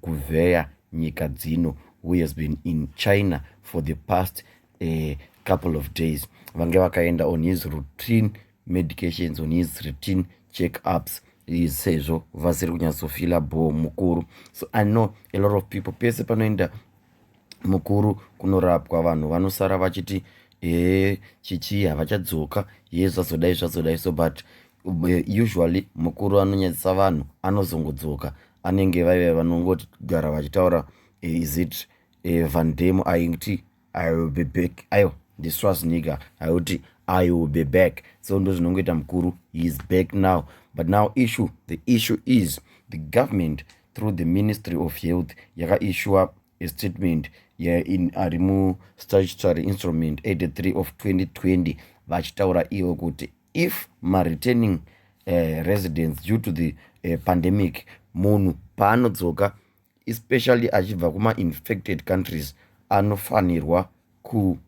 kuvheya nyika dzino who has been in china for the past uh, couple of days vange vakaenda on his routine medications on his routine check ups sezvo vasiri kunyatsofila bhoo mukuru so i know a lot of people pese panoenda mukuru kunorapwa vanhu vanosara vachiti ee chichii havachadzoka ye zvazodai zvazodai so but eh, usually mukuru anonyadzisa vanhu anozongodzoka anenge vaive vanongogara vachitaura eh, is it eh, vandemo aiti i will be back aiwa ndiswazniga aiuti i will be back so ndo zvinongoita mukuru he is back now but now issue the issue is the government through the ministry of health yakaishuwa a statement ari mustatutory instrument 83 of 2020 vachitaura ivo kuti if mareturning uh, eh, residence due to the uh, pandemic munhu paanodzoka especially achibva kumainfected countries anofanirwa ku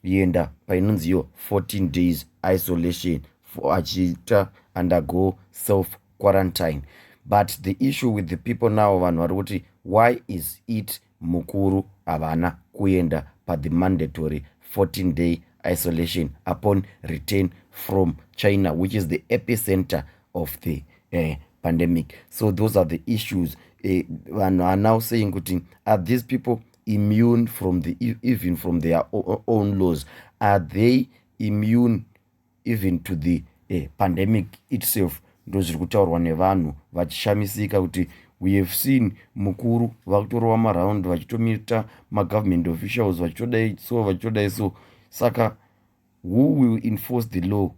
yenda painonzi yo 14 days isolation for achiita undergo self quarantine but the issue with the people now vanhu vari kuti why is it mukuru havana kuenda pathe mandatory 14 day isolation upon return from china which is the epicenter of the uh, pandemic so those are the issues eh, vanhu uh, are now saying kuti are these people immune from the e, even from their own laws are they immune even to the uh, pandemic itself ndo zviri kutaurwa nevanhu vachishamisika kuti we have seen mukuru vakutorova maround vachitomita magovernment officials vachitodai so vachitodai so saka who will enforce the law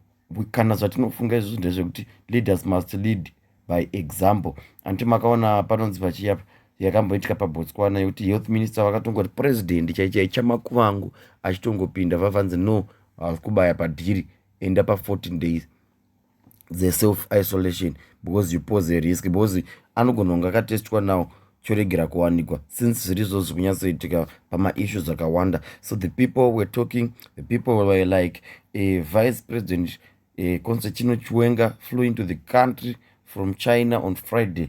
kana zvatinofunga izvozvo ndezvekuti leaders must lead by example anti makaona panonzi pachiyapa yakamboitika pabotswana yekuti health minister vakatongoti president chaichai chamakuvangu achitongopinda vavanzi no haus kubaya padhiri enda pa 14 days dzeself isolation because you pose a risk because anogona kunge akatestwa now choregera kuwanikwa since zviri izvozvo zviri kunyatsoitika pamaissues akawanda so the people were talking the people were like uh, vice president uh, constantino chiwenga flew into the country from china on friday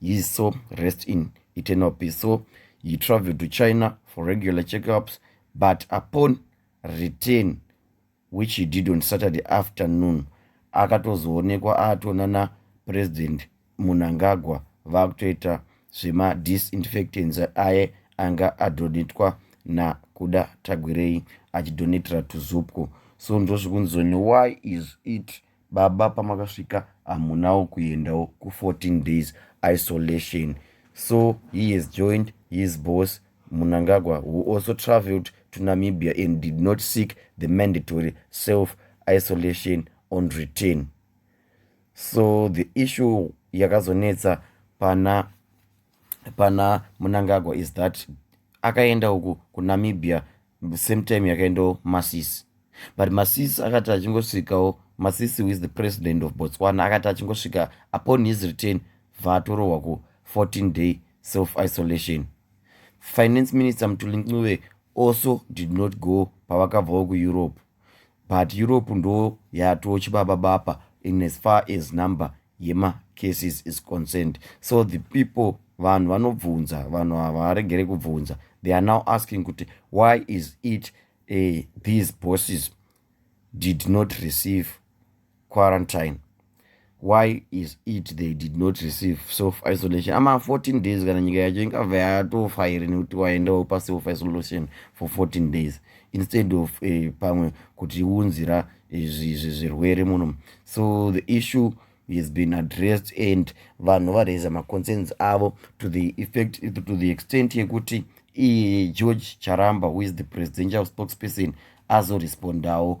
his soul rest in eternal peace so he traveled to china for regular checkups but upon return which he did on saturday afternoon akatozoonekwa aatona napresident munangagwa vakutoita zvemadisinfectants aye anga adonetwa nakuda tagwirei achidonetera tuzupco so ndozvikunzoni why is it baba pamakasvika hamunawo kuendawo ku14 days isolation so he has joined his boss munangagwa who also travelled to namibia and did not seek the mandatory self isolation on return so the issue yakazonetsa pana pana munangagwa is that akaenda uku kunamibia same time yakaendawo masisi but masisi akati achingosvikawo masisi with the president of botswana akati achingosvika upon his return vaatorohwa ku 14 day self isolation finance minister mtulincuve also did not go pavakabvawo kueurope but Europe ndo yato chibaba bapa in as far as number yema cases is concerned so the people vanhu vanobvunza vanhu havaregere kubvunza they are now asking kuti why is it uh, these bosses did not receive quarantine why is it they did not receive self isolation ama 14 days kana nyika yacho ingabva yatofa here nekuti waendawo paself isolation for 14 days instead of uh, pamwe kuti unzira eh, zvirwere muno so the issue has been addressed and vanhu varaiza maconcerns avo to the effect to the extent yekuti igeorge charamba who is the presidential spokesperson azorespondawo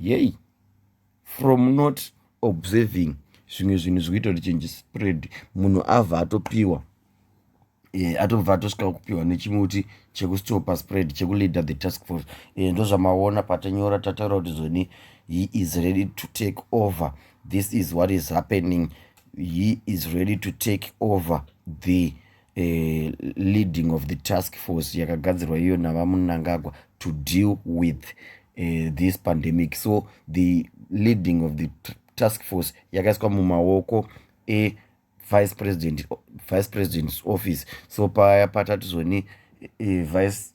yei from not observing zvimwe zvinhu zvikuita kuti chinji spread munhu avha atopiwa e, atobva atosvika kupiwa nechimuti chekustopa spread chekuleader the task force e, eh, ndozvamaona patanyora tataura kuti zoni he is ready to take over this is what is happening he is ready to take over the eh, leading of the task force yakagadzirwa iyo navamunangagwa to deal with uh, this pandemic so the leading of the task force yakaiswa mumaoko evice president vice president's office so paya patati zvoni eh, vice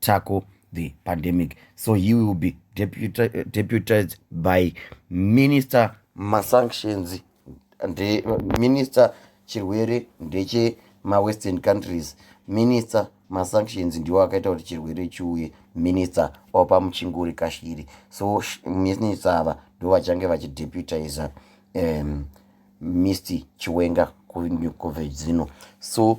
tackle the pandemic so he will be deputized by minister masanctions nde minister chirwere ndeche mawestern countries minister masanctions ndiwo akaita kuti chirwere chiuye minister opa muchinguri kashiri so minister ava ndo vachange vachideputiza um, mr chiwenga kunyukovedzino so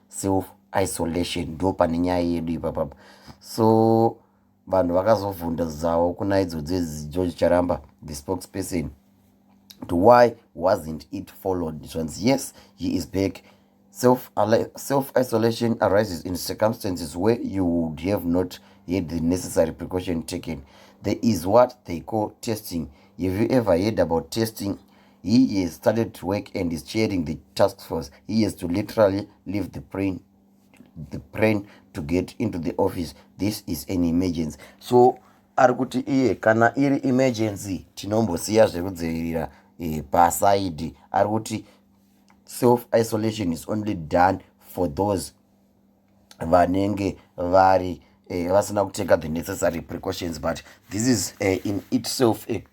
self isolation ndo pane nyaya yedu ipapapa so vanhu vakazobvunda zavo kuna idzo dzegeorge charamba the spokesperson to why wasn't it followed zvanzi yes he is back self, self isolation arises in circumstances where you would have not had the necessary precaution taken there is what they call testing have you ever heard about testing he has started to work and is chairing the task force he has to literally leave the brain the brain to get into the office this is an emergency so ari kuti iye kana iri emergency tinombosiya zvekudzivirira e, pasaidi ari kuti self isolation is only done for those vanenge vari eh, vasina kuteka the necessary precautions but this is uh, in itself a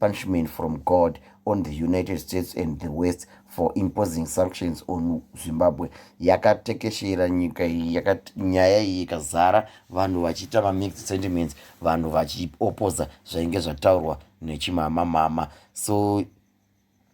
punishment from God on the United States and the West for imposing sanctions on Zimbabwe yakatekeshera nyika iyi nyaya iyi ikazara vanhu vachiita mamixed sentiments vanhu vachiopoza zvainge zvataurwa nechimama mama so